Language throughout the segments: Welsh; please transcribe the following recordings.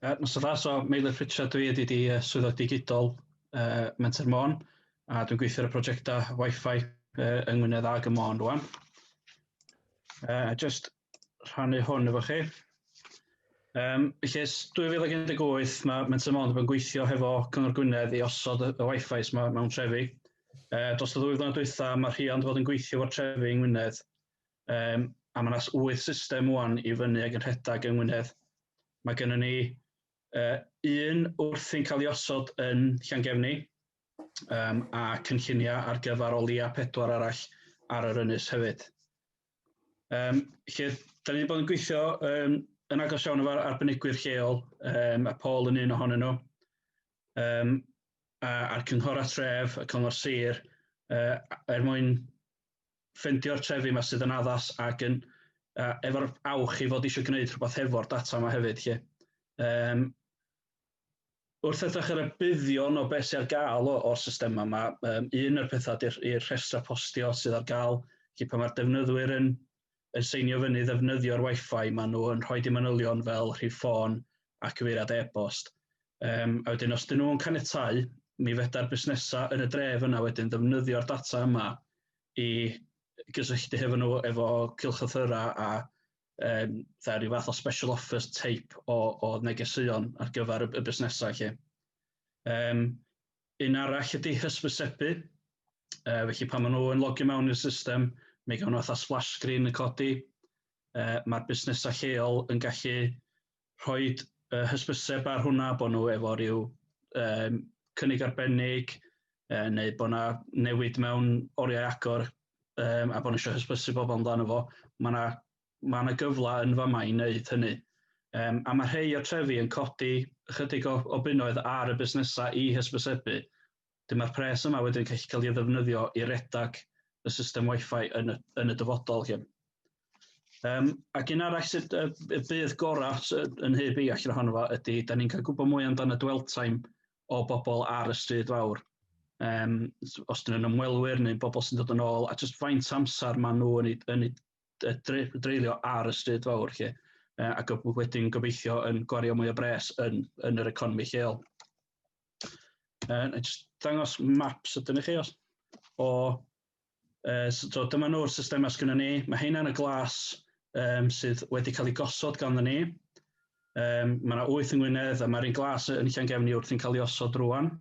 Uh, Mr Farr, so Meilir Pritchard dwi ydy di uh, swyddog digidol uh, Menter Môn a dwi'n gweithio ar y prosiectau Wi-Fi uh, yng Ngwynedd ag y Môn rwan. Uh, just rhannu hwn efo chi. Um, felly, 2018 mae Menter Môn yn gweithio hefo Cyngor Gwynedd i osod y, y Wi-Fi yma mewn trefi. Uh, dros y ddwy flynedd dwytha, mae rhiant fod yn gweithio fo'r trefi yng Ngwynedd. Um, a mae'n as wyth system wwan i fyny ag yn rhedeg yng Ngwynedd. Mae gennym ni uh, un wrthi'n cael ei osod yn Llangefni um, a cynlluniau ar gyfer o leia pedwar arall ar yr ynys hefyd. Um, lle, da ni wedi bod yn gweithio um, yn agos iawn efo'r arbenigwyr lleol, um, a Paul yn un ohonyn nhw, um, a'r cynghor a tref, y cyngor sir, uh, er mwyn ffendio'r trefi yma sydd yn addas ac yn uh, efo'r awch i fod eisiau gwneud rhywbeth hefo'r data yma hefyd. Lle. Um, wrth edrych ar y buddion o beth sy'n ar gael o'r system yma, um, un o'r pethau i'r rhestra postio sydd ar gael, lle pan mae'r defnyddwyr yn yn seinio fyny ddefnyddio'r wifi maen nhw yn rhoi dim manylion fel rhif ffôn a cyfeiriad e-bost. Um, a wedyn os dyn nhw'n caniatau, mi feda'r busnesau yn y dref yna wedyn ddefnyddio'r data yma i gysylltu hefo nhw efo cilchlythyrau a um, dda, rhyw fath o special offers teip o, o negeseuon ar gyfer y, y busnesau lle. Um, Un arall ydy hysbysebu, uh, felly pan maen nhw yn logio mewn i'r system, mi gawn nhw fatha splash screen yn codi, uh, mae'r busnesau lleol yn gallu rhoi uh, hysbyseb ar hwnna bod nhw efo rhyw um, cynnig arbennig, uh, neu bod yna newid mewn oriau agor, um, a bod nhw eisiau hysbysu bobl amdano fo. Mae yna mae yna gyfle yn fama i wneud hynny. Um, a mae rhai o'r trefi yn codi ychydig o, o bunnoedd ar y busnesau i hysbysebu. Dyma'r pres yma wedyn gallu cael ei ddefnyddio i redag y system Wi-Fi yn y, yn y dyfodol. Hyn. Um, ac un arall sydd uh, bydd gorau yn hyb i allan ohono fo ydy, da ni'n cael gwybod mwy amdano dwell time o bobl ar y stryd fawr. Um, os dyn nhw'n ymwelwyr neu bobl sy'n dod yn ôl, a jyst faint amser maen nhw yn ei, yn ei dreulio ar y stryd fawr lle, ac wedyn gobeithio yn gwario mwy o bres yn, yn yr economi lleol. Uh, just dangos maps ydyn i chi os, o Uh, so dyma nhw'r systemau sgynny ni. Mae hynna'n y glas um, sydd wedi cael ei gosod ganddo ni. Um, mae yna wyth yng Ngwynedd a mae'r un glas yn Llangefni wrthi'n cael ei osod rwan.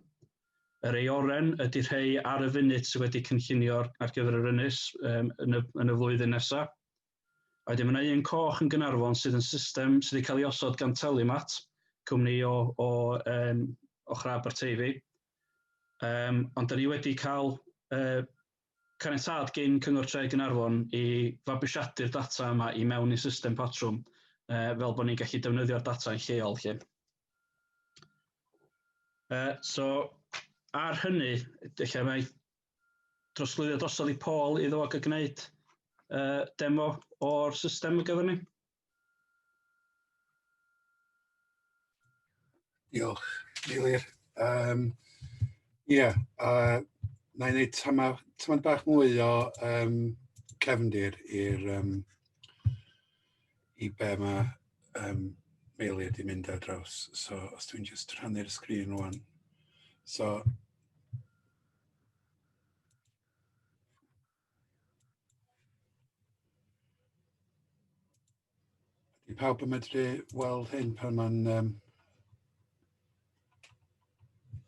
Yr ei oren ydy rhei ar y funud sydd wedi cynllunio ar gyfer yr ynys um, yn, y, yn y flwyddyn nesaf. A wedyn mae yna un coch yn Gynarfon sydd yn system sydd wedi cael ei osod gan Telimat, cwmni o, o, um, o Chrab Arteifi. Um, ond da ni wedi cael uh, Caniatâd gin Cyngor Tre Gaernarfon i fabwysiadu'r data yma i mewn i'n system patrwm fel bod ni'n gallu defnyddio'r data yn lleol 'lly. So, ar hynny, ella mae drosglwyddiad drosodd i Paul iddo fo gael gwneud demo o'r system ar gyfer ni. Diolch, Eilir. Um, Ie, yeah, uh, na i wneud tamau, tamau bach mwy o um, cefndir i'r um, i be mae um, Meilir di mynd ar draws. So, os dwi'n just rhannu'r sgrin rwan. So, Ydy pawb yn medru weld hyn pan mae'n um,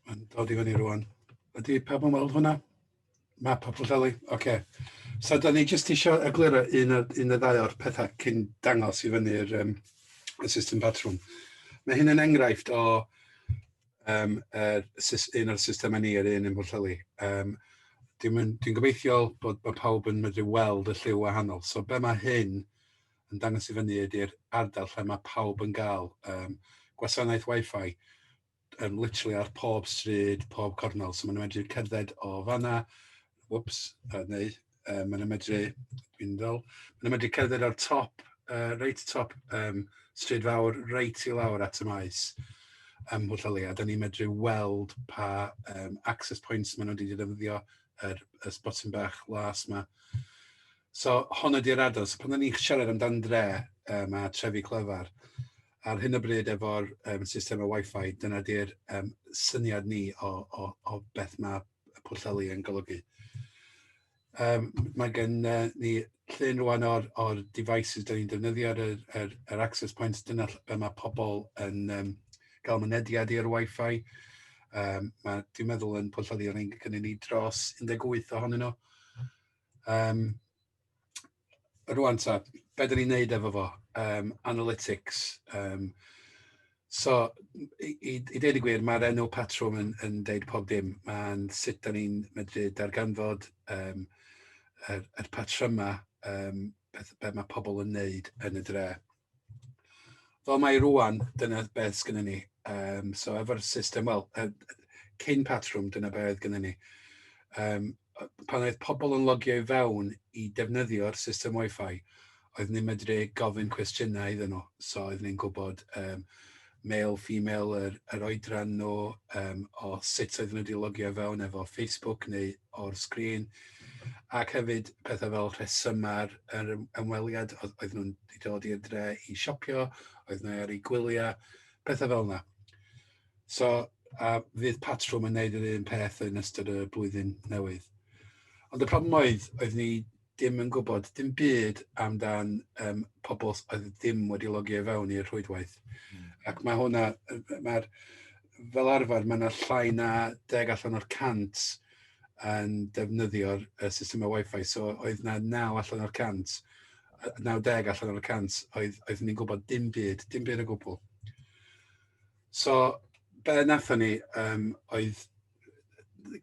mae'n dod i fyny rwan. Ydy pawb yn weld hwnna? Map o Pwllheli? Oce. Okay. So, da ni jyst eisiau egluro un o, un o ddau o'r pethau cyn dangos i fyny'r um, y system patrwm. Mae hyn yn enghraifft o um, er, un o'r systemau ni yr un yn Bwllheli. Um, Dwi'n dwi gobeithio bod, bod pawb yn medru weld y lliw wahanol. So be mae hyn yn dangos i fyny ydy'r ardal lle mae pawb yn gael um, gwasanaeth Wi-Fi um, literally ar pob stryd, pob cornol. So maen nhw'n medru cerdded o fanna, whoops, uh, neu uh, maen nhw'n medru, dwi'n fel, maen nhw'n medru cerdded ar top, uh, reit top um, stryd fawr, reit i lawr at y maes ym Mhwllheli, a da ni'n medru weld pa um, access points maen nhw wedi defnyddio, yr, y spotin bach las yma. So, hon ydy'r adol. So, pan da ni'n siarad amdan dre um, a trefi clyfar, ar hyn o bryd efo'r um, system o Wi-Fi, dyna di'r um, syniad ni o, o, o beth mae Pwllheli yn golygu. Um, mae gen uh, ni llun rwan o'r, or devices dyn ni'n defnyddio ar yr, yr, yr access points, dyna be mae pobl yn um, gael mynediad i'r Wi-Fi. Um, mae, dwi'n meddwl yn Pwllheli o'n ein gynnu ni dros 18 ohonyn nhw. Um, rŵan ta, be dyn ni'n neud efo fo, um, analytics. Um, so, i, i, i ddeud y gwir, mae'r enw patrwm yn, yn deud pob dim. Mae'n sut dyn ni'n medru darganfod um, yr, yr patrymau um, beth, beth mae pobl yn neud yn y dre. Fel mae rwan, dyna beth sgynna ni. Um, so efo'r system, wel, cyn patrwm, dyna beth oedd gynna ni. Um, pan oedd pobl yn logio i fewn i defnyddio'r system Wi-Fi, oedd ni'n medru gofyn cwestiynau iddyn nhw. So oedd ni'n gwybod um, male, female, yr, yr oedran nhw, um, o sut oedden nhw wedi logio fewn efo Facebook neu o'r sgrin, ac hefyd pethau fel rhesymau'r yr ymweliad, oedd, oedd nhw'n dod i'r dre i siopio, oedd nhw ar ei gwyliau, pethau fel yna. So, a fydd patrwm yn neud yr un peth yn ystod y blwyddyn newydd. Ond y problem oedd, oedd ni dim yn gwybod dim byd amdan um, pobl oedd ddim wedi logio i fewn i'r rhwydwaith. Mm. Ac mae hwnna, mae'r, fel arfer, mae yna llai na deg allan o'r cant yn defnyddio'r uh, systemau Wi-Fi, so oedd na naw allan o'r cant, naw deg allan o'r cant, oedd, oedd ni'n gwybod dim byd, dim byd o gwbl. So, be nathon ni um, oedd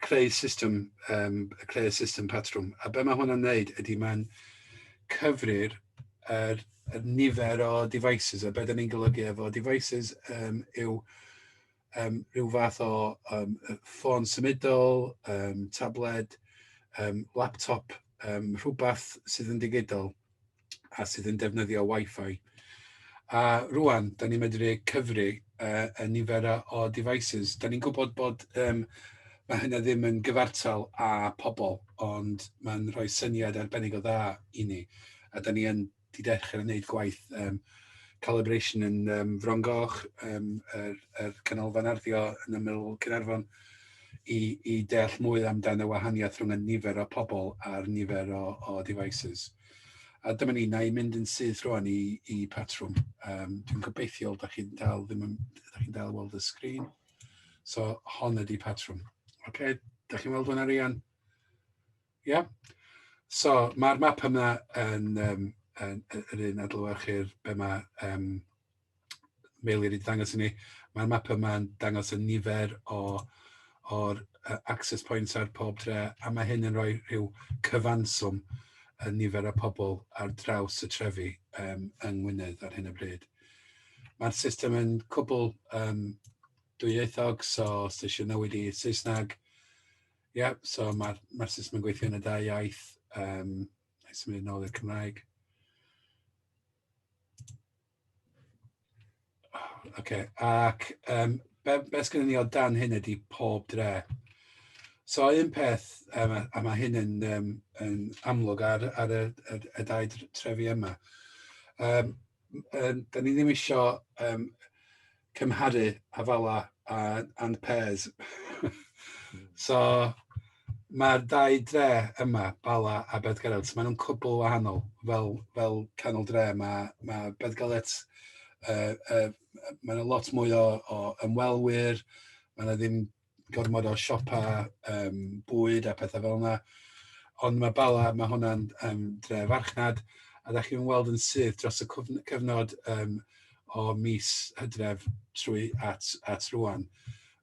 creu system, um, creu system patrwm. A be mae hwnna'n neud ydy mae'n cyfrir yr, yr nifer o devices, a beth ni'n golygu efo devices um, yw um, rhyw fath o um, ffôn symudol, um, tabled, um, laptop, um, rhywbeth sydd yn digidol. a sydd yn defnyddio Wi-Fi. A rwan, da ni'n medru cyfri uh, y nifer o devices. Da ni'n gwybod bod um, mae hynna ddim yn gyfartal â pobl, ond mae'n rhoi syniad arbennig o dda i ni. A da ni yn di dechrau yn gwneud gwaith um, calibration yn um, Frongoch, um, yr, er, er canolfan arddio yn ymyl Cynarfon, i, i deall mwy amdano y wahaniaeth rhwng y nifer o pobl a'r nifer o, o devices. A dyma ni, na i mynd yn syth rwan i, i patrwm. Um, dwi'n gobeithio, da chi'n dal, ddim yn, da chi'n dal weld y sgrin. So, hon ydy patrwm. Oce, okay, da chi'n weld hwnna rian? Ie? Yeah? So, mae'r map yma yn, um, yn, yn, yn un adlywyrchu'r be mae um, fel wedi dangos i ni, mae'r map yma'n dangos y nifer o o'r uh, access points ar pob dre, a mae hyn yn rhoi rhyw cyfanswm y nifer o pobl ar draws y trefi um, yng Ngwynedd ar hyn o bryd. Mae'r system yn cwbl um, dwyieithog, so os ti eisiau newid i Saesneg, ie, yeah, so mae'r ma system yn gweithio yn y dau iaith, um, neu symud yn ôl i'r Cymraeg. Oce, ac um, be, be sgynny ni o dan hyn ydy pob dre. So un peth, um, a mae hyn yn, um, yn amlwg ar, ar y, y, y dau trefi yma, um, um, da ni ddim eisiau um, cymharu Avala a and Pairs. so mae'r dau dre yma, Bala a Bedgalet, maen nhw'n cwbl wahanol. Fel, fel canol dre, mae, mae Bedgalet, uh, uh, maen nhw lot mwy o, o ymwelwyr, maen nhw ddim gormod o siopau um, bwyd a pethau fel yna. Ond mae Bala, mae hwnna'n um, dre farchnad, a da chi'n weld yn syth dros y cyfnod um, o mis hydref trwy at, at rwan.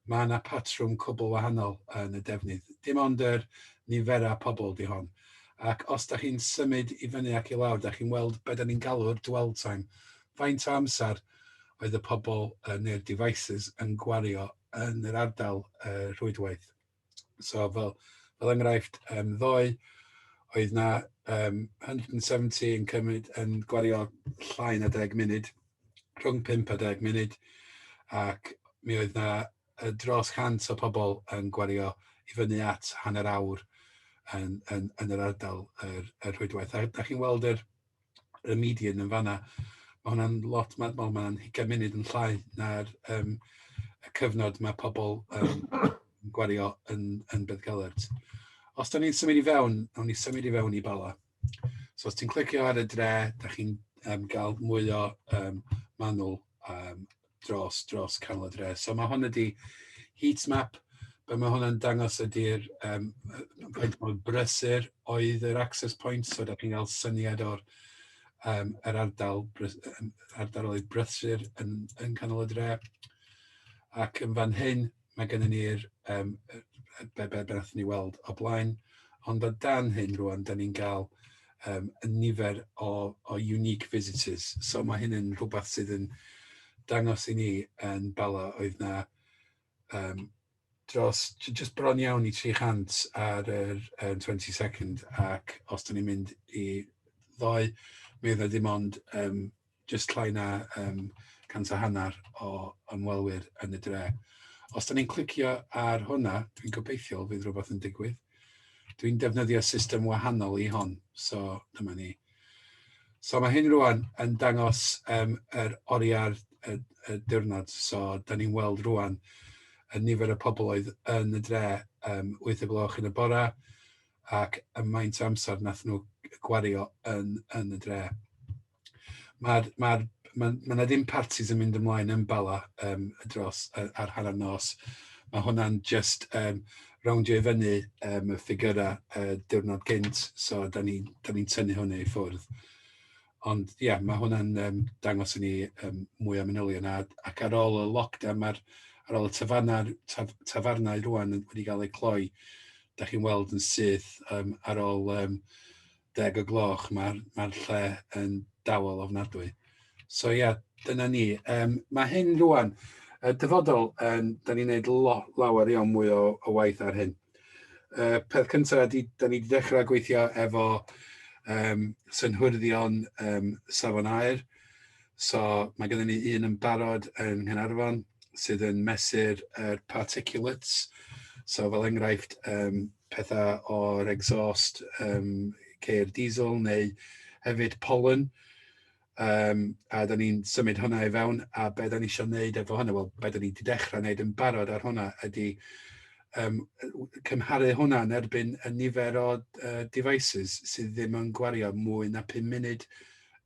Mae yna patrwm cwbl wahanol yn y defnydd. Dim ond yr niferau pobl di hon. Ac os da chi'n symud i fyny ac i lawr, da chi'n weld beth da ni'n galw'r dwell time. Faint o amser oedd y pobl neu'r devices yn gwario yn yr ardal rhwydwaith? So fel fel enghraifft yym ddoe oedd 'na yym 170 yn cymryd yn gwario llai na deg munud, rhwng pump a deg munud, ac mi oedd 'na yy dros 100 o pobl yn gwario i fyny at hanner awr yn yn yn yr ardal yr y rhwydwaith. A dach chi'n weld yr y median yn fanna. Mae hwnna'n lot, mae'n ma, ma hugain munud yn llai na'r um, y cyfnod mae pobl um, yn gwario yn, yn Beddgelert. Os da ni'n symud i fewn, awn ni symud i fewn i Bala. So os ti'n clicio ar y dre, da chi'n um, gael mwy o um, manwl um, dros, dros canol y dre. So mae hwn ydi heat map, be mae hwnna'n dangos ydy'r um, faint mor brysur oedd yr access point, so da chi'n cael syniad o'r um, yr ardal, ardal oedd brysur yn, yn canol y dre. Ac yn fan hyn, mae gennym ni'r um, be, be, be ni weld o blaen, ond o dan hyn rwan, da ni'n cael um, y nifer o, o unique visitors. So mae hyn yn rhywbeth sydd yn dangos i ni yn bala oedd na um, dros, just bron iawn i 300 ar yr um, 22nd ac os da ni'n mynd i ddoe, mi oedd na dim ond um, jyst llai na um, cant a hanner o ymwelwyr yn y dre. Os da ni'n clicio ar hwnna, dwi'n gobeithio fydd rhywbeth yn digwydd. Dwi'n defnyddio system wahanol i hon, so dyma ni. So mae hyn rwan yn dangos um, yr oriau'r y, y diwrnod, so da ni'n weld rwan y nifer y pobl oedd yn y dre um, 8 y gloch yn y bora ac y maint amser nath nhw gwario yn, yn y dre. Mae'r, mae'r, mae, mae na ddim parties yn mynd ymlaen yn bala um, dros ar, ar hanner nos. Mae hwnna'n just um, rowndio i fyny um, y ffigurau uh, diwrnod gynt, so da ni'n ni, ni tynnu hwnna i ffwrdd. Ond ie, yeah, mae hwnna'n um, dangos i ni um, mwy o manylion. A, ac ar ôl y lockdown, mae'r ar ôl y tafarnau, taf, tafarnau rwan wedi cael eu cloi, da chi'n weld yn syth um, ar ôl um, deg o gloch, mae'r mae lle yn dawel ofnadwy. So ia, yeah, dyna ni. Um, mae hyn rwan, y dyfodol, um, da ni'n gwneud lawer iawn mwy o, o waith ar hyn. Uh, peth cyntaf, da ni wedi dechrau gweithio efo um, synhwyddion um, safon aer. So mae gennym ni un yn barod yn Nghanarfon sydd yn mesur yr er particulates. So fel enghraifft, um, pethau o'r exhaust, um, ceir diesel neu hefyd pollen. Um, a da ni'n symud hwnna i fewn, a be da ni eisiau gwneud efo hwnna, wel, be da ni wedi dechrau gwneud yn barod ar hwnna ydy um, cymharu hwnna yn erbyn y nifer o uh, devices sydd ddim yn gwario mwy na 5 munud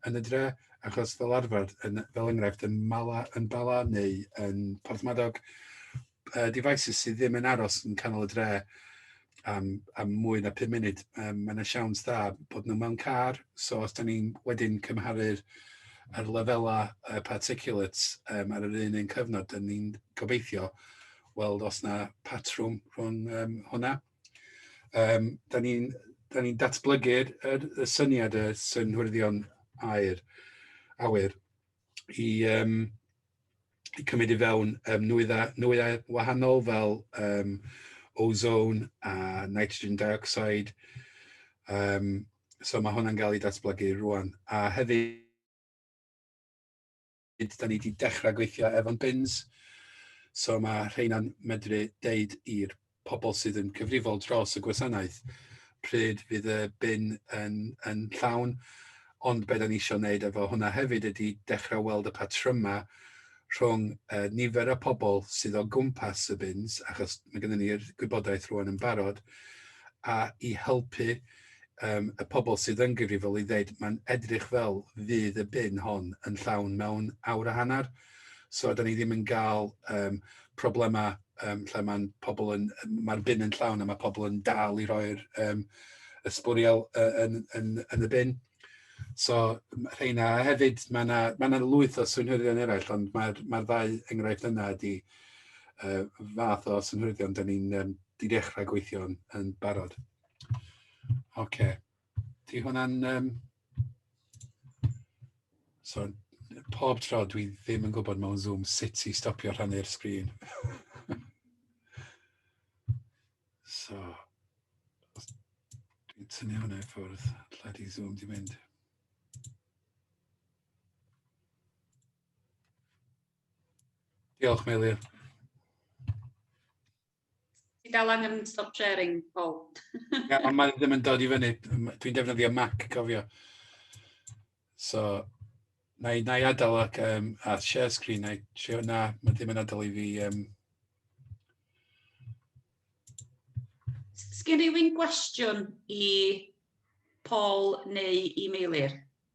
yn y dre, achos fel arfer, yn, fel enghraifft, yn, Mala, yn Bala neu yn Porthmadog, uh, devices sydd ddim yn aros yn canol y dre am, am mwy na 5 munud. Um, mae yna siawns dda bod nhw mewn car, so os da ni'n wedyn cymharu'r ar lefelau uh, particulates um, ar yr un un cyfnod, da ni'n gobeithio weld os na patrwm rhwng um, hwnna. Um, da ni'n ni datblygu'r y, y syniad y synhwyrdion air, awyr. i um, i cymryd i fewn um, nwyddau, nwyddau wahanol fel um, ozone a nitrogen dioxide. Um, so mae hwnna'n cael ei datblygu rwan. A hefyd, da ni wedi dechrau gweithio efo'n bins. So mae rheina'n medru deud i'r pobl sydd yn cyfrifol dros y gwasanaeth, pryd fydd y bin yn, yn llawn. Ond beth o'n i eisiau wneud efo hwnna hefyd ydy dechrau weld y patrymau rhwng uh, nifer y pobl sydd o gwmpas y bins, achos mae gennym ni'r gwybodaeth rwan yn barod, a i helpu um, y pobl sydd yn gyfrifol i ddeud mae'n edrych fel fydd y bin hon yn llawn mewn awr a hanner. So, da ni ddim yn gael um, problemau um, lle mae'n pobl yn, mae'r bin yn llawn a mae pobl yn dal i roi'r um, y sbwriel uh, yn, yn, yn y bin. So, rheina hefyd, mae yna ma lwyth o synhwyddion eraill, ond mae'r mae ddau enghraifft yna ydy uh, fath o synhwyddion da ni'n um, di dechrau gweithio'n yn barod. Oce. Okay. Di hwnna'n... Um... So, pob tro dwi ddim yn gwybod mewn Zoom sut i stopio rhannu'r sgrin. so, dwi'n tynnu hwnna i ffwrdd, lle di Zoom di mynd. Diolch, Meilir. Ti dal angen stop sharing, Paul. Ie, ond mae ddim yn dod i fyny. Dwi'n defnyddio Mac, cofio. So, na i, na i adael ac, um, a share screen, na i trio, na, mae ddim yn adael i fi... Um... Sgyn rhywun gwestiwn i Paul neu i Meilir?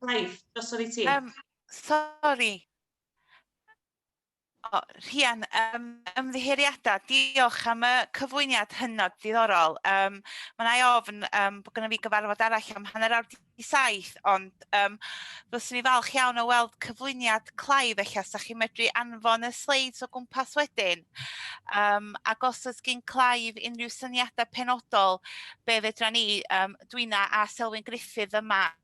Clive, drosodd i ti. Um, sorry. O, Rhian, um, ymddiheuriadau, diolch am y cyflwyniad hynod diddorol. Um, Mae'n ei ofn um, bod gyda fi gyfarfod arall am hanner awr di saith, ond um, fyswn i falch iawn o weld cyflwyniad Clive eich as, a chi'n medru anfon y sleids o gwmpas wedyn. Um, ac os oes gen Clive unrhyw syniadau penodol, be fedra ni, um, dwi'n a Selwyn Griffith yma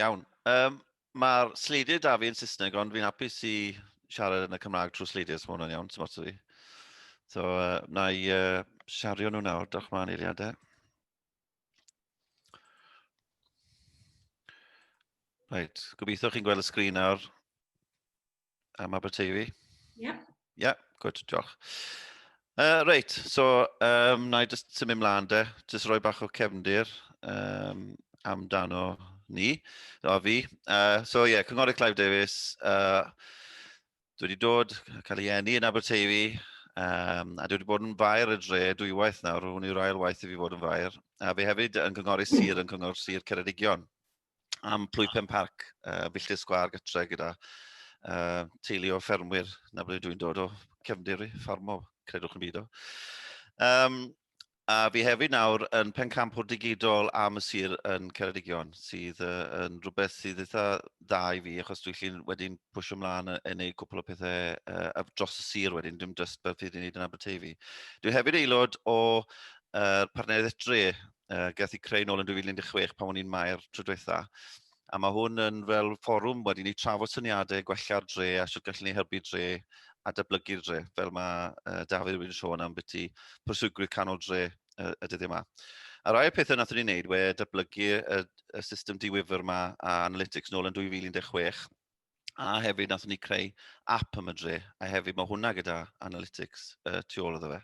Iawn. Um, Mae'r sleidiau da fi yn Saesneg, ond fi'n hapus i siarad yn y Cymraeg trwy sleidiau, so mae hwnna'n iawn, ti'n modd fi. So, uh, na i uh, siario nhw nawr, dwch ma'n eiliadau. Right, gobeithio chi'n gweld y sgrin nawr. am Aberteifi? Ie. Yeah. Ie, yeah, gwyd, diolch. Uh, reit, so um, na i jyst symud mlaen de, jyst rhoi bach o cefndir um, amdano ni, o fi. Uh, so ie, yeah, Cynghorydd Clive Davies, uh, dwi wedi dod, cael ei enni yn Aberteifi, um, a dwi wedi bod yn fair y dre dwy waith nawr, hwn yw'r ail waith i fi fod yn fair, a fi hefyd yn cynghori sir yn cyngor sir Ceredigion. am Plwypen Parc, uh, Filltir Sgwar gytre gyda uh, teulu o ffermwyr na ble dwi'n dod o cefndir i, ffarmo, credwch yn byd o. Um, a fi hefyd nawr yn pencampwr digidol am y sir yn Ceredigion, sydd uh, yn rhywbeth sydd eitha dda i fi, achos dwi'n llun wedyn pwysio ymlaen yn gwneud cwpl o pethau uh, dros y sir wedyn, dim just beth fydd i'n gwneud yn Aberteifi. Dwi'n hefyd aelod o uh, partneriaeth dre uh, gath i creu nôl yn 2016 pan o'n i'n maer tro diwetha. A mae hwn yn fel fforwm wedi ni trafod syniadau gwella'r dre a sut gallwn ni helpu dre a dyblygu'r dre, fel mae uh, Dafydd wedi'n sôn am beth i proswygwyr canol dre uh, y dyddiau yma. A rai o'r pethau nath ni'n neud we dyblygu y, y system diwyfr yma a Analytics nôl yn 2016 a hefyd nath ni creu app am y dre a hefyd mae hwnna gyda Analytics uh, tu ôl iddo fe.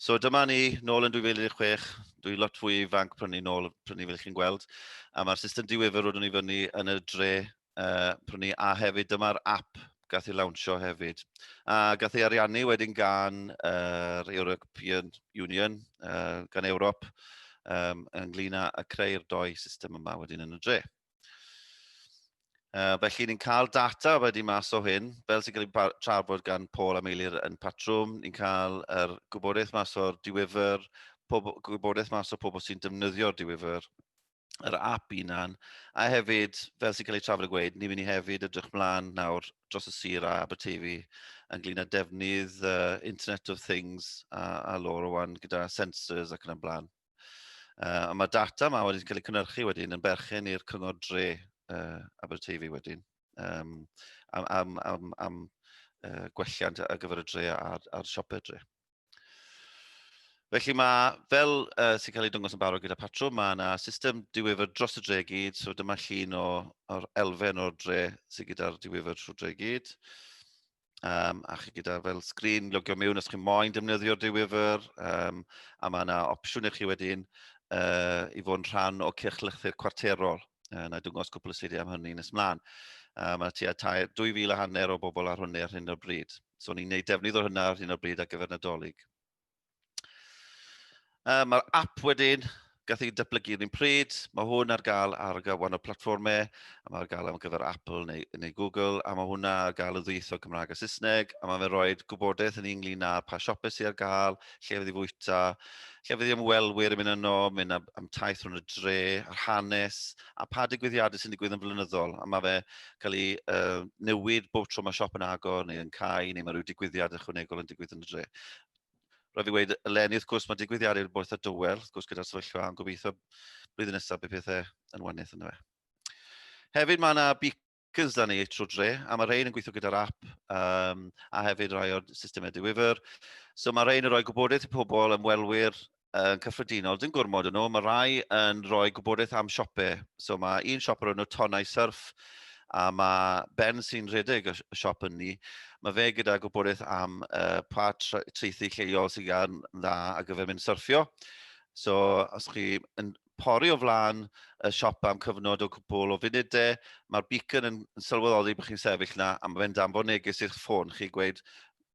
So dyma ni, nôl yn 2016, dwi lot fwy ifanc prynu ni nôl, prynu ni fel chi'n gweld, a mae'r system diwefr roeddwn i fyny yn y dre uh, prynu, a hefyd dyma'r app gath ei lawnsio hefyd. A gath ei ariannu wedyn gan yr uh, European Union, uh, gan Ewrop, um, ynglyn â creu'r doi system yma wedyn yn y dre. Uh, felly ni'n cael data wedi mas o hyn, fel sy'n cael ei trafod gan Paul a Meilir yn patrwm, ni'n cael yr er gwybodaeth mas o'r diwyfr, gwybodaeth mas o pobl sy'n defnyddio'r diwyfr, yr app unan, a hefyd, fel sy'n cael ei trafod y gweud, ni'n mynd i hefyd ydrych mlaen nawr dros y sir a Aberteifi ynglyn â defnydd uh, Internet of Things a, a lor o wan gyda sensors ac yn y blaen. Uh, a mae data yma wedi cael ei cynnyrchu wedyn yn berchen i'r cyngor dre uh, Aberteifi wedyn um, am, am, am, am uh, gwelliant ar gyfer y dre a'r, a'r siopau dre. Felly mae, fel uh, sy'n cael ei dwngos yn barod gyda patrwm, mae yna system diwifr dros y dre gyd, so dyma llun o, o'r elfen o'r dre sydd gyda'r diwifr trwy dre gyd. Um, a chi gyda fel sgrin logio mewn os chi'n moyn defnyddio'r diwyfr, um, a mae yna opsiwn i chi wedyn uh, i fod yn rhan o cyrchlythyr cwarterol. Uh, na dwngos cwpl o slidiau am hynny nes mlaen. Uh, mae tua 2,000 a hanner o bobl ar hynny ar hyn o'r bryd. So ni'n gwneud defnydd o hynna ar hyn o'r bryd ar gyfer Nadolig. Um, Mae'r app wedyn, gath ei datblygu yn un pryd, mae hwn ar gael ar wahanol platformau, a mae ar gael am gyfer Apple neu, neu Google, a mae hwnna ar gael y ddwytho Cymraeg a Saesneg, a mae'n rhoi gwybodaeth yn ynglyn â pa siopau sydd ar gael, lle fydd i fwyta, lle fydd i ymwelwyr yn mynd yno, mynd am, am taith rhwng y dre, a'r hanes, a pa digwyddiadau sy'n digwydd yn flynyddol, a mae fe cael ei uh, newid bob tro mae siop yn agor neu yn cael, neu mae rhyw digwyddiad ychwanegol yn digwydd yn y dre. Roedd i wedi dweud, eleni wrth gwrs mae digwyddiadau wedi bod eitha dywel, wrth gwrs gyda'r sefyllfa, yn gobeithio blwyddyn nesaf bydd pethau yn waniaeth yn fe. Hefyd mae yna beacon gyda ni trwy dre, a mae rhain yn gweithio gyda'r app um, a hefyd rai o'r systemau diwyfr. So mae rhain yn rhoi gwybodaeth i pobl, ymwelwyr yn cyffredinol, dim gwrmod yn nhw, mae rhai yn rhoi gwybodaeth am siopau. So mae un siop o'r enw Tonau Surf, a mae Ben sy'n rhedeg y siop yn ni, mae fe gyda gwybodaeth am uh, pa treithi lleol sy'n gan dda ar gyfer mynd syrffio. So, os chi yn pori o flaen y siop am cyfnod o gwbl o funudau, mae'r beacon yn sylweddoli bod chi'n sefyll yna a mae fe'n danfon neges i'ch ffôn chi gweud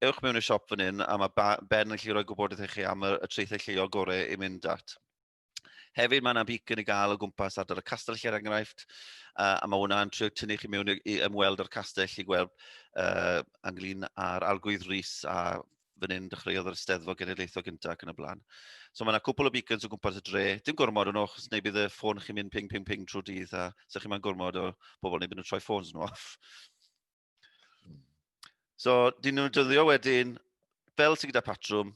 ewch mewn i'r siop fan hyn a mae Ben yn gallu rhoi gwybodaeth i chi am y, y traethau lleol gorau i mynd at. Hefyd mae yna beacon i gael o gwmpas ardal y castell er enghraifft, uh, a mae hwnna'n trio tynnu chi mewn i, i ymweld â'r castell i gweld uh, ynglyn â'r arglwydd Rhys a fan hyn, dechreuodd yr Steddfod Genedlaethol gyntaf ac yn y blaen. So mae yna cwpl o beacons o gwmpas y dre. Dim gormod o'n ochos, neu bydd y ffôn chi'n mynd ping, ping, ping trwy dydd, a sa'ch chi'n mynd gormod o bobl, neu bydd nhw'n troi ffôns nhw off. So, dyn nhw'n dyddio wedyn, fel sy'n gyda patrwm,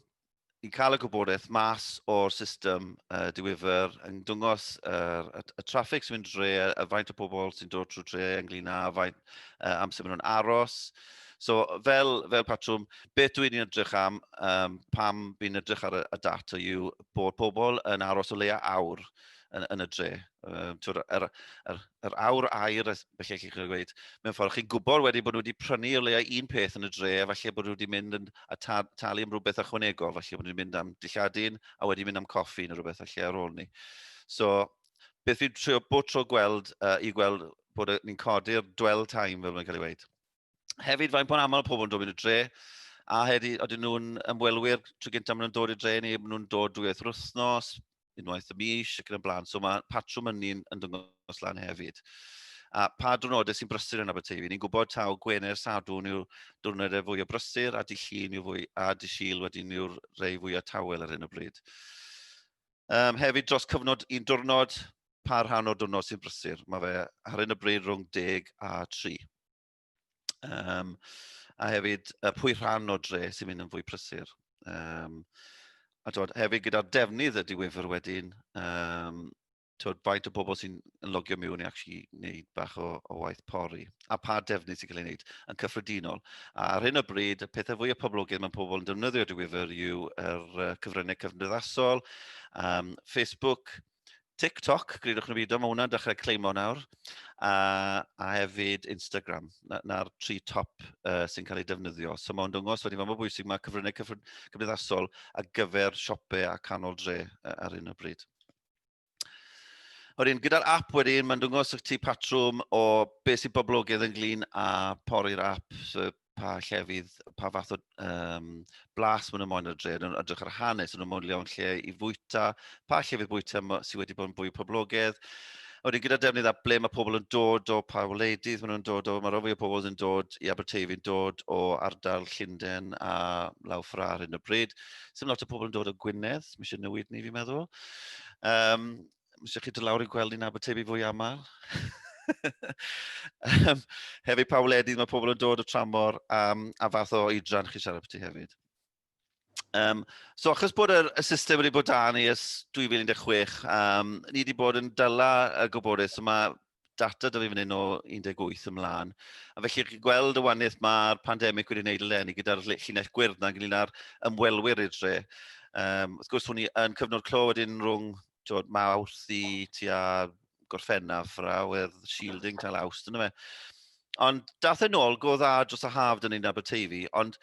i'n cael y gwybodaeth mas o'r system uh, diwyfer yn dwngos uh, y, y traffig sy'n mynd dre, y faint o bobl sy'n dod trwy dre ynglyn â faint uh, amser maen nhw'n aros, So fel, fel patrwm, beth dwi'n ni'n edrych am um, pam fi'n edrych ar y, y data yw bod pobl yn aros o leia awr yn, yn y dre. Um, twr, yr, yr, yr awr air, felly chi'n gweud, mewn ffordd, chi'n gwybod wedi bod nhw wedi prynu o leia un peth yn y dre, a falle bod nhw wedi mynd yn, a ta, talu am rhywbeth ychwanegol, falle bod nhw wedi mynd am dilladi'n, a wedi mynd am coffi neu rhywbeth falle ar ôl ni. So, beth fi'n trio bod tro gweld, uh, i gweld bod ni'n codi'r dwell time, fel mae'n cael ei weid. hefyd, faint bod aml pobl yn dod i'r dre, a hefyd, oedden nhw'n ymwelwyr trwy gyntaf maen nhw'n dod i'r dre ni, maen nhw'n dod drwy eithaf wythnos, unwaith y mis ac yn y blaen. So mae patrwm yn ni'n yn dyngos lan hefyd. A pa drwnodau sy'n brysur yn Aberteifi? Ni'n gwybod taw Gwener Sadwn yw'r diwrnodau fwy o brysur a dillun yw fwy a disil wedyn yw'r rei fwy o tawel ar hyn o bryd. Um, hefyd dros cyfnod un diwrnod, pa rhan o'r diwrnod sy'n brysur? Mae fe ar hyn o bryd rhwng deg a tri. Um, a hefyd uh, pwy rhan o dre sy'n mynd yn fwy prysur. Um, a dod, hefyd gyda'r defnydd y diwyfr wedyn, um, tywed, faint o bobl sy'n logio miwn i actually wneud bach o, o waith pori, a pa defnydd sy'n cael ei wneud yn cyffredinol. A ar hyn o bryd, y pethau fwy o poblogydd mae pobl yn defnyddio diwyfr yw yr uh, cyfryngau cyfnyddaethol, um, Facebook, TikTok, gridwch neu beidio, mae hwnna'n dechrau cleimo nawr. A, a hefyd Instagram, na'r na tri top uh, sy'n cael ei defnyddio. So mae'n dwngos wedi fod mor bwysig mae cyfryngau cymdeithasol ar gyfer siopau a canol dre uh, ar un o bryd. Wedyn, gyda'r app wedyn, mae'n dwngos o'ch ti patrwm o beth sy'n boblogaidd ynglyn a pori'r app. So, pa llefydd, pa fath o um, blas maen nhw'n moyn ar dre, nhw'n edrych ar hanes, nhw'n moyn lewn lle i fwyta, pa llefydd bwyta sydd wedi bod yn fwy poblogaidd, Oedden gyda defnydd a ble mae pobl yn dod o, pa wleidydd maen nhw'n dod o, mae rhywbeth o pobl yn dod i Aberteifi yn dod o ardal Llundain a law ffra ar hyn o bryd. Sym lot o pobl yn dod o Gwynedd, mae eisiau newid ni fi'n meddwl. Um, Mis chi dod lawr i'n gweld ni'n Abertefi fwy aml. um, hefyd pa wledydd mae pobl yn dod o tramor um, a fath o oedran chi siarad beth hefyd. Um, so achos bod yr, y system wedi bod dan ni ys 2016, um, ni wedi bod yn dyla y gwybodaeth, so mae data da fi fan hyn o 18 ymlaen. A felly chi'n gweld y waniaeth mae'r pandemig wedi gwneud eleni gyda'r llinell gwyrdd na ynglyn â'r ymwelwyr i'r dre. Um, wrth gwrs, hwn i yn cyfnod clo wedyn rhwng tywed, mawrth i tua gorffennaf rawedd shielding tal awst yna fe. Ond dath e'n ôl, go dda dros y haf dyn ni'n Aberteifi, ond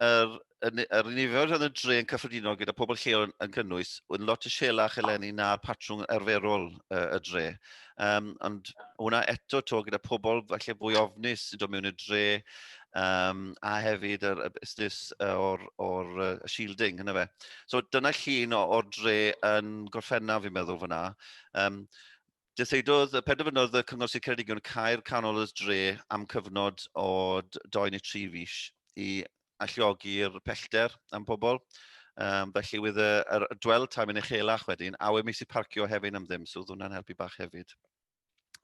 yr, yr, yr nifer oedd yn dre yn cyffredinol gyda pobl lleol yn, yn cynnwys, oedd yn lot y sielach eleni na'r patrwng arferol uh, y dre. Um, ond hwnna eto to gyda pobl falle fwy ofnus sy'n dod mewn y dre, um, a hefyd yr, y busnes o'r, or, uh, shielding, hynny fe. So dyna llun o'r dre yn gorffennaf, fi'n meddwl, fyna. Um, Dyseidodd, penderfynodd y Cyngor Sir Ceredigion cael canol y dre am cyfnod o 2 neu 3 fis i alliogi'r pellter am pobl. Um, felly wyd y, yr dwel time yn uchelach wedyn, a wedi mis i parcio hefyd am ddim, so oedd hwnna'n helpu bach hefyd.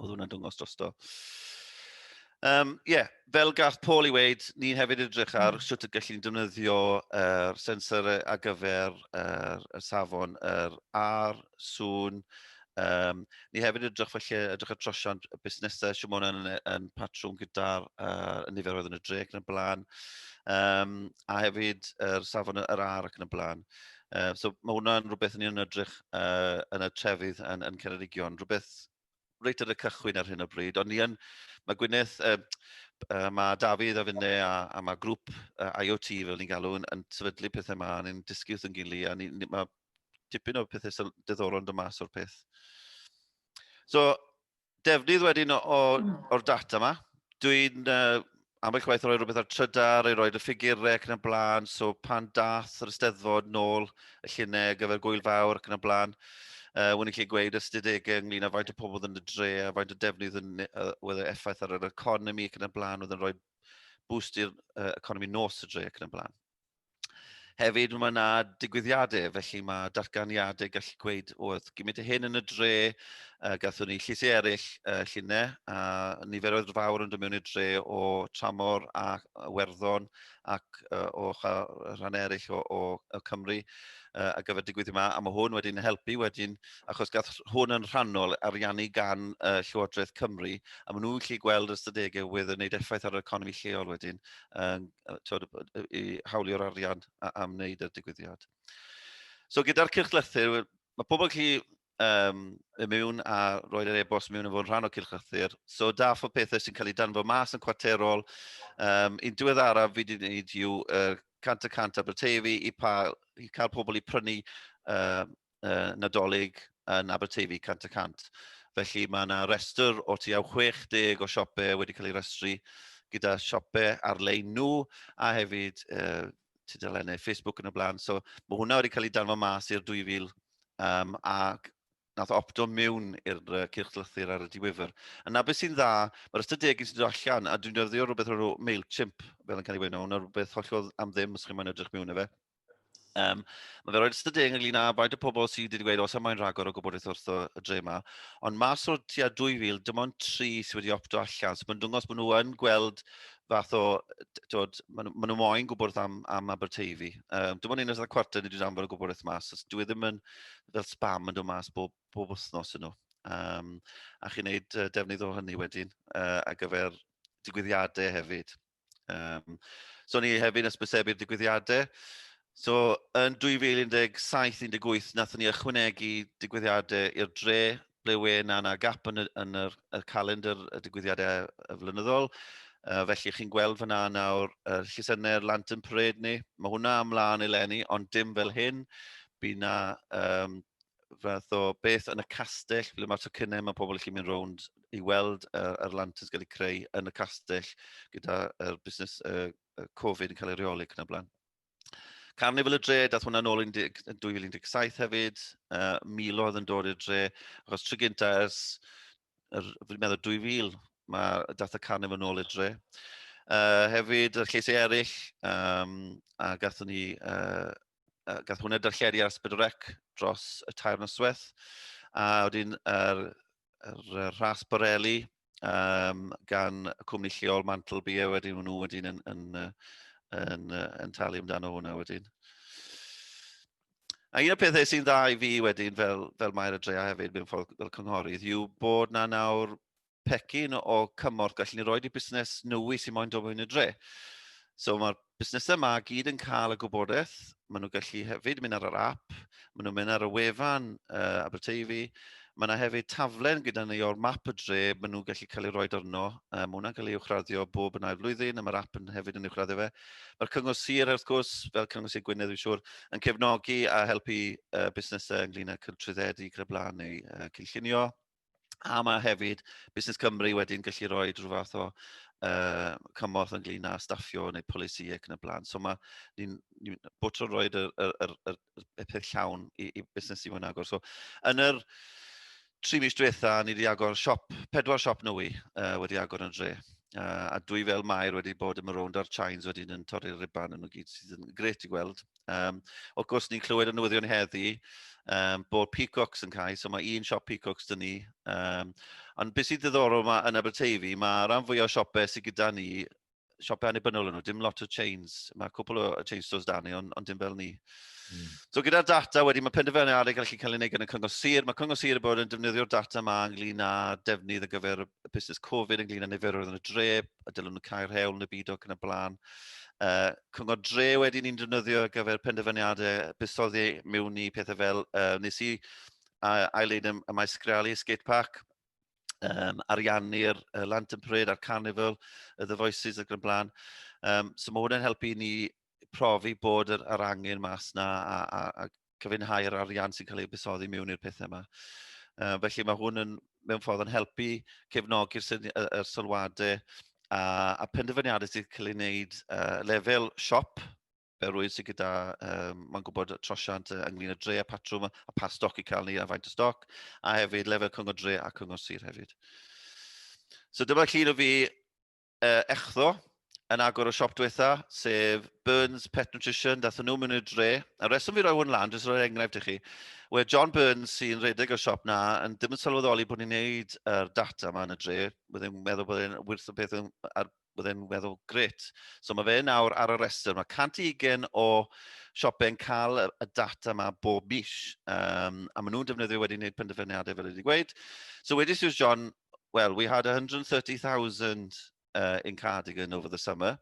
Oedd hwnna'n dwngos drosto. Um, yeah, fel gath Paul i weid, ni hefyd edrych ar mm. sut y gallu ni'n defnyddio er, sensor ar gyfer er, y safon, yr er, ar, sŵn. Um, ni hefyd edrych felly, edrych ar trosiant y busnesau, sy'n mwyn yn, yn patrwm gyda'r er, nifer oedd yn y dreg yn y blaen, um, a hefyd yr er, safon yr er, ar ac yn y blaen. Uh, so mae hwnna'n rhywbeth ni'n edrych uh, yn y trefydd yn, yn Ceredigion, rhywbeth reit ar y cychwyn ar hyn o bryd, ond ni yn, mae Gwyneth, uh, uh, mae Dafydd a Fynne a, a mae grŵp uh, IoT fel ni'n galw yn, yn sefydlu pethau yma, ni'n dysgu wrth yn gilydd, a ni, ni, mae tipyn o pethau diddorol yn dod mas o'r peth. So, defnydd wedyn o'r data yma, dwi'n uh, ambell waith roi rhywbeth ar trydar i roed y ffigurau ac yn y blaen, so pan dath yr ysteddfod nôl y llunau ar gyfer gwyl fawr ac yn y blaen, uh, wna'n lle gweud ystadegau ynglyn â faint o pobl yn y dre a faint o defnydd yn, uh, oedd e effaith ar yr economi ac yn y blaen, oedd yn rhoi boost i'r uh, economi nos y dre ac yn y blaen. Hefyd mae yna digwyddiadau, felly mae datganiadau gallu gweud, oedd gymryd y hyn yn y dre, uh, gathwn ni llysau eraill uh, llunau, a niferoedd fawr yn dod mewn i'r dre o tramor a werddon ac uh, o rhan eraill o, o, o Cymru uh, a gyfer digwydd yma, a mae hwn wedi'n helpu wedyn, achos gath hwn yn rhannol ariannu gan uh, Llywodraeth Cymru, a maen nhw'n gallu gweld ystadegau wedd yn gwneud effaith ar yr economi lleol wedyn, um, tywed, i hawlio'r arian a, am wneud y digwyddiad. So gyda'r cylchlythyr, mae pobl chi um, y mewn a roed yr e-bost mewn yn fod yn rhan o cylchlythyr. So da fo pethau sy'n cael ei danfo mas yn cwarterol. Um, un diweddaraf fi wedi gwneud yw uh, cant y cant Aberteifi i, pa, i cael pobl i prynu uh, uh, Nadolig yn Aberteifi 100 y 100. Felly mae yna restr o tu au 60 o siopau wedi cael ei restru gyda siopau ar-lein nhw a hefyd uh, tudalennau Facebook yn y blaen. So mae hwnna wedi cael ei danfod mas i'r 2000 um, a nath opto mewn i'r uh, cyrchlythyr ar y diwyfr. Yna beth sy'n dda, mae'r ystod degyn sy'n dod allan, a dwi'n dyrddio rhywbeth o'r MailChimp, fel yn cael ei wein, hwnna rhywbeth hollol am ddim os chi'n mynd edrych mewn i fe. Um, mae fe roed ystod deg ynglyn â faint o pobl sydd wedi gweud os am mae'n rhagor o gwybodaeth wrth y dre yma. Ond mas o'r tua 2,000, dim ond tri sydd wedi opto allan. So mae'n dwngos bod nhw yn gweld fath o, tywed, maen nhw, nhw moyn gwybod am, am Aberteifi. Um, dim ond un o'r cwarter ni wedi anfod o gwybod eich mas. So, dwi e ddim yn fel spam yn dod mas bob, bob wythnos yn nhw. Um, a chi'n neud uh, defnydd o hynny wedyn uh, ar gyfer digwyddiadau hefyd. Um, so ni hefyd yn ysbysebu'r digwyddiadau. So yn 2017-18 nathon ni ychwanegu digwyddiadau i'r dre ble we na na gap yn y, yn yr, y calendr y digwyddiadau y flynyddol. Uh, felly chi'n gweld fyna nawr uh, llysenau'r Lantern Parade ni. Mae hwnna ymlaen eleni, ond dim fel hyn. Bydd na um, fath o beth yn y castell, ble mae'r tocynnau, mae pobl chi'n mynd rownd i weld yr, yr lanterns gael eu creu yn y castell gyda'r er busnes uh, Covid yn cael ei reoli ac yn y blaen. Carnival y dre, dath hwnna'n ôl yn 2017 hefyd, uh, milodd yn dod i'r dre, achos try gynta ers er, fi'n meddwl 2000, mae dath y carnif yn ôl i'r dre. Uh, hefyd, y lleisau eraill, um, a gath ni, uh, uh, gath hwnna darlledu ar Ysbryd Rec dros y tair noswaith, a wedyn yr, er, er, rhas Borelli um, gan y cwmni lleol Mantle Bia wedyn nhw wedyn yn, yn, yn, yn, yn talu amdano hwnna wedyn. A un o'r pethau sy'n dda i fi wedyn fel, fel Mair y Drea hefyd mewn ffordd fel cynghorydd yw bod na nawr pecyn o cymorth gallen ni roi i busnes nwy sy'n moyn dod mewn y dre. So mae'r busnesau yma gyd yn cael y gwybodaeth, maen nhw'n gallu hefyd mynd ar yr app, maen nhw'n mynd ar y wefan uh, Aberteifi, Mae yna hefyd taflen gyda ni o'r map y dre, maen nhw'n gallu cael ei roed arno. Um, mae hwnna'n cael ei uwchraddio bob yn ail flwyddyn, a mae'r app yn hefyd yn uwchraddio fe. Mae'r Cyngor Sir, wrth gwrs, fel Cyngor Sir Gwynedd, dwi'n siŵr, yn cefnogi a helpu uh, busnesau ynglyn â trwyddedu gyda blaen neu uh, cynllunio. A mae hefyd Busnes Cymru wedyn gallu rhoi rhyw fath o uh, cymorth ynglyn â staffio neu polisi ac yn y blaen. So mae ni'n ni, bod tro'n rhoi y, y, y, y y peth llawn i, i busnes i mwyn agor. So, yn yr tri mis diwetha, ni wedi agor siop, pedwar siop nwy uh, wedi agor yn dre. Uh, a dwi fel Mair wedi bod yn rownd ar Chines wedyn yn torri'r riban yn y gyd sydd yn gret i gweld. Um, o gwrs, ni'n clywed y newyddion heddi um, bod Peacocks yn cael, so mae un siop Peacocks dyn ni. Um, ond beth sy'n ddiddorol mae yn Aberteifi, mae rhan fwy o siopau sydd gyda ni siopau annibynnol yn nhw, dim lot o chains. Mae cwpl o chain stores da ni, ond, ond dim fel ni. Mm. So gyda'r data wedi, mae penderfynu ar ei gallu cael ei wneud gan y Cyngor Sir. Mae Cyngor Sir yn bod yn defnyddio'r data yma ynglyn â defnydd ar gyfer y busnes Covid, ynglyn â niferoedd yn y dre, a dylwn nhw cael rhewl yn y byd ac yn y blaen. Uh, cyngor dre wedi ni'n defnyddio ar gyfer penderfyniadau busoddi mewn i pethau fel uh, nes i uh, ail-leid y, y maes sgrealu, skate park, um, ariannu'r uh, Lantern Parade a'r Carnival, y The Voices ac yn blaen. Um, so mae hwnna'n helpu ni profi bod yr, yr angen mas na a, a, a cyfynhau yr arian sy'n cael ei busoddi mewn i'r pethau yma. Uh, felly mae hwn yn, mewn ffordd yn helpu cefnogi'r sylwadau a, a penderfyniadau sydd cael ei wneud uh, lefel siop yr wyt sydd gyda, um, mae'n gwybod trosiant ynglyn â dre a patrwm a pa stoc i cael ni a faint o stoc, a hefyd lefel cyngor dre a cyngor sir hefyd. So dyma llun o fi uh, echdo yn agor o siop diwetha, sef Burns Pet Nutrition, dath nhw mewn i'r dre. A reswm fi roi hwn lan, jyst roi enghraifft i chi. Wel, John Burns sy'n redeg o'r siop na, yn ddim yn sylweddoli bod ni'n neud yr data yma yn y dre. Byddai'n meddwl bod e'n wirth o beth ar bydd e'n weddol gret. So mae fe nawr ar y rhestr. Mae 120 o siopau yn cael y data yma bob mis. Um, a maen nhw'n defnyddio wedi gwneud penderfyniadau fel wedi gweud. So wedi Suze John, well, we had 130,000 uh, in Cardigan over the summer.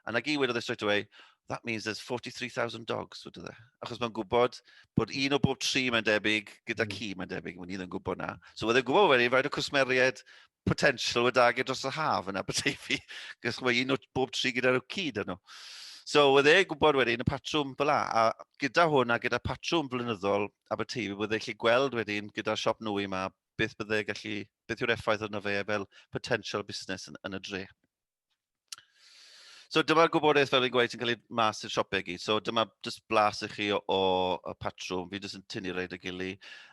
And like he wedodd e straight away, that means there's 43,000 dogs, wedodd e. Achos mae'n gwybod bod hmm. un o bob tri mae'n debyg gyda hmm. ci mae'n debyg, mae'n un yn gwybod na. So wedi'n gwybod wedi, faint o cwsmeriaid potential o dag dros y haf yn Aberteifi, gos mae un o bob tri gyda rwci dyn nhw. So, oedd e gwybod wedyn y patrwm fel la, a gyda hwn a gyda patrwm flynyddol Aberteifi, oedd e'n gallu gweld wedyn gyda'r siop nwy yma, beth bydde gallu, beth yw'r effaith arno fe fel potential busnes yn, yn y dre. So dyma'r gwybodaeth fel yn gweud sy'n cael ei mas i'r siopau gyd. So dyma jyst blas i chi o, o, o patrwm. Fi jyst yn tynnu rhaid y gili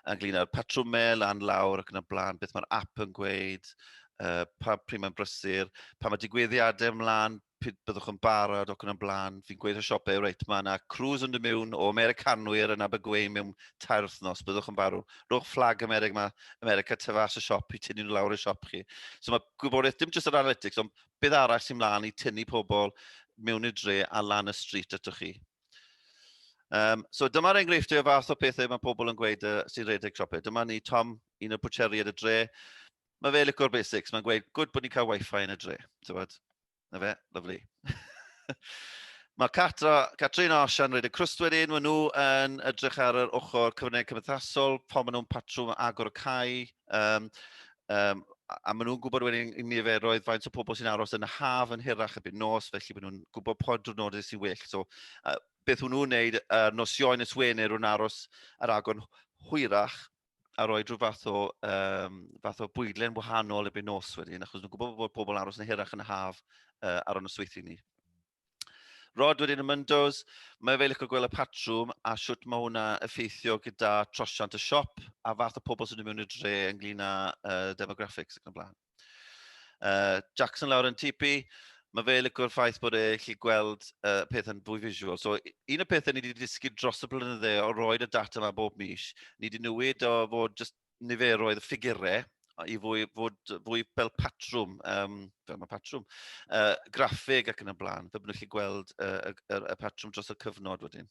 ynglyn â'r patrwmau lan lawr ac yn y blaen, beth mae'r app yn gweud, uh, pa pryd mae'n brysur, pa mae digwyddiadau ymlaen, pryd byddwch yn barod ac yn y blaen. Fi'n gweud y siopau, reit, mae yna crws yn dod mewn o Americanwyr yn Abergwein mewn tair wythnos, byddwch yn barw. Rhowch fflag Amerig mae America, tu fas y siop i tynnu nhw lawr y siop chi. So mae gwybodaeth, dim jyst yr analytics, ond beth arall sy'n mlaen i tynnu pobl mewn i'r dre a lan y stryd atoch chi. Um, so dyma'r enghreifftiau o fath o pethau mae pobl yn gweud uh, sy'n rhedeg siopau. Dyma ni Tom, un o'r bwcheri ar y dre. Mae fe licor basics, mae'n gweud, gwyd bod ni'n cael wifi yn y dre. Tywed? Na fe, lyflu. Mae Catra, Catrin a Osian wedi crwst wedyn, maen nhw yn edrych ar yr ochr cyfryngau cymdeithasol, pan maen nhw'n patrwm agor y cae, um, um, a maen nhw'n gwybod wedyn i niferoedd faint o pobl sy'n aros yn y haf yn hirach y byd nos, felly maen nhw'n gwybod pob drwnodau sy'n well. So, uh, beth hwnnw'n wneud, uh, nosioen ys Wener, nhw'n aros ar agor hwyrach, a roi rhyw fath o, um, fath o bwydlen wahanol erbyn nos wedyn, achos nhw'n gwybod bod pobl aros yn hirach yn y haf uh, ar y nosweithio ni. Rod wedyn y Myndos, mae fe licio gweld y patrwm a siwt mae hwnna effeithio gyda trosiant y siop a fath o pobl sy'n mynd mewn i'r dre ynglyn â uh, demographics ac yn y blaen. Uh, Jackson lawr yn tipi, mae fe licwr ffaith bod e lle gweld uh, peth yn fwy visual. So, un o'r pethau ni wedi dysgu dros y blynydde o roed y data yma bob mis, ni wedi newid o fod just niferoedd y ffigurau i fwy, fod fwy fel patrwm, um, fel mae patrwm, uh, graffeg ac yn y blaen, fe bod nhw'n gallu gweld uh, y, y, y patrwm dros y cyfnod wedyn.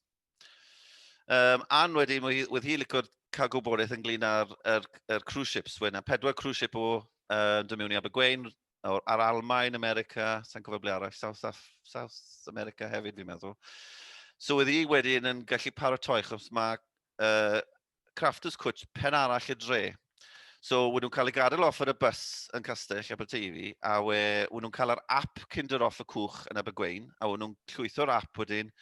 Um, Anne wedyn, wedd hi licio cael gwybodaeth ynglyn â'r er, er cruise ships. Wedd yna pedwar cruise ship o uh, dod mewn i Abergwein, ar Almain, America, sa'n cofio ble arall, South, Af South America hefyd fi'n meddwl. So wedd hi wedyn yn gallu paratoi, chos mae uh, Crafters Cwtch pen arall y dre. So wyd nhw'n cael ei gadael off ar y bus yn Castell Aberteifi, a we, wyd nhw'n cael yr app Kinder off y cwch yn Abergwein, a wyd nhw'n llwytho'r app wedyn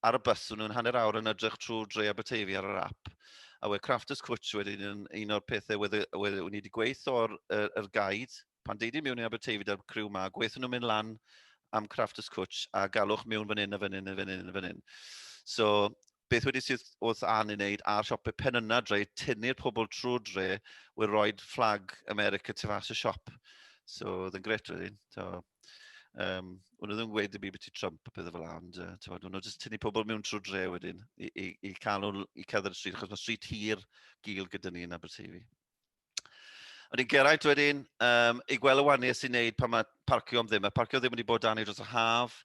ar y bus, nhw'n hanner awr yn edrych trwy Dre Aberteifi ar yr app, a we Crafters Cwtch wedyn yn un o'r pethau wedi, wedi, wedi, wedi gweithio o'r er, er gaid, pan deidi miwn i Aberteifi da'r criw ma, gweithio nhw'n mynd lan am Crafters Cwtch a galwch miwn fan hyn a fan hyn a fan hyn a fan hyn. So, beth wedi sydd wrth an i wneud a'r siopau pen yna dre, tynnu'r pobl trwy dre, wedi rhoi fflag America tu fas y siop. So, oedd yn gret wedyn. So, Um, o'n nhw ddim yn gweud ddim byd beth i Trump a pethau fel hyn, ond uh, o'n nhw jyst tynnu pobl mewn trwy dre wedyn i, i, i cael nhw i cadw'r y stryd, achos mae stryd hir gil gyda ni yn Aberteifi. Ond i'n geraint wedyn, um, i gweld y waniau sy'n neud pan mae parcio am ddim. Mae parcio ddim wedi bod dan ei dros y haf.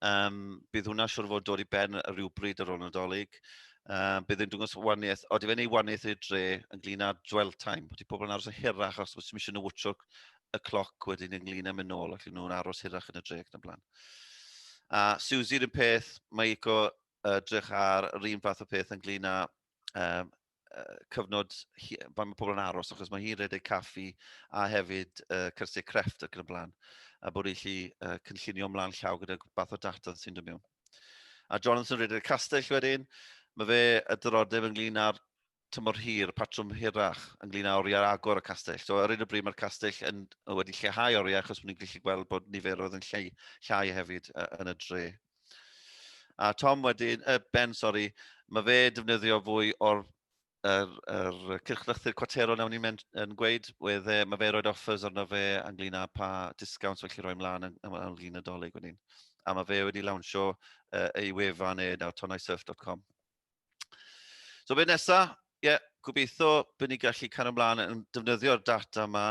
Um, bydd hwnna siwr fod dod i ben rhywbryd ar ôl nadolig. Um, bydd yn dwngos waniaeth, o, di fe'n ei waniaeth i'r dre ynglyn â dwell time. Di pobl yn aros yn hirach os wyt ti'n eisiau nhw wtio y cloc wedyn ynglyn â mynd nôl, ac nhw'n aros hirach yn y dre ac yn y blaen. A Susie, rhywun peth, mae Ico uh, drych ar yr un fath o peth ynglyn â um, uh, cyfnod, pan mae pobl yn aros, achos mae hi'n redeg caffi a hefyd uh, cyrsiau crefft ac yn y blaen, a bod eich chi uh, cynllunio ymlaen llaw gyda bath o data sy'n dod mewn. A Jonathan redeg castell wedyn, mae fe y dyrodeb ynglyn â'r tymor hir, patrwm hirach ynglyn â oriau agor y castell. So, ar un o bryd mae'r castell yn, wedi lleihau oriau achos bod ni'n gallu gweld bod niferoedd yn llei, llai hefyd uh, yn y dre. A Tom wedyn, uh, Ben, sori, mae fe defnyddio fwy o'r yr, yr cyrchlythyr cwatero nawn ni'n yn gweud, wedd, e, mae fe roed offers arno fe ynglyn â pa discounts felly roi mlaen yn, yn, yn llun y dolyg wedyn. A mae fe wedi lawnsio uh, ei wefan e nawr, tonaisurf.com. So beth nesaf? Ie, yeah, gobeithio bod ni'n gallu cael ymlaen yn defnyddio'r data yma,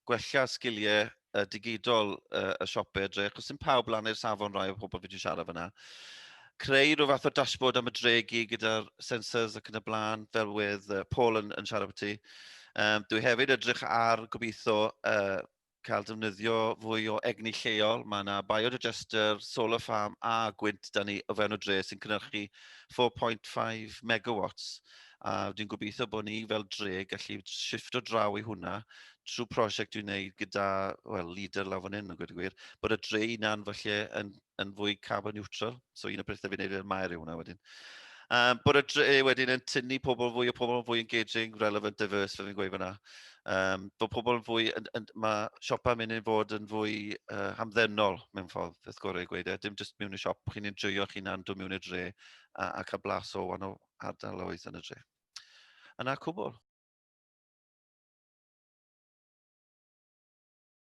gwella sgiliau uh, digidol uh, y siopau y dre, achos sy'n pawb lan i'r safon rai o pobl fi wedi siarad fyna. Creu rhyw fath o dashboard am y dregu gyda'r sensors ac yn y blaen, fel wedd uh, Paul yn, yn siarad beth ti. Um, dwi hefyd edrych ar gobeithio uh, cael defnyddio fwy o egni lleol. Mae yna biodigester, solar farm a gwynt da ni o fewn y dre sy'n cynhyrchu 4.5 megawatts. A dwi'n gobeithio bod ni fel dre gallu shift o draw i hwnna trwy prosiect dwi'n gwneud gyda well, leader lawr fan hyn, yn gwybod gwir, bod y dre unan falle yn yn fwy carbon neutral. So un o bethau fi'n neud i'r maer yw hwnna wedyn. Um, bod y dre eh, wedyn yn tynnu pobl fwy o pobl yn fwy engaging, relevant, diverse, fe fi'n gweud fyna. Um, bod pobl yn fwy, yn, yn, mae siopau mynd i'n fod yn fwy uh, hamddenol mewn ffordd, beth gorau i gweud e. Dim jyst mewn i siop, chi'n enjoyo chi'n hunan, dod mewn i'r dre a, a cael blas o wan o ardaloedd yn y dre. Yna cwbl.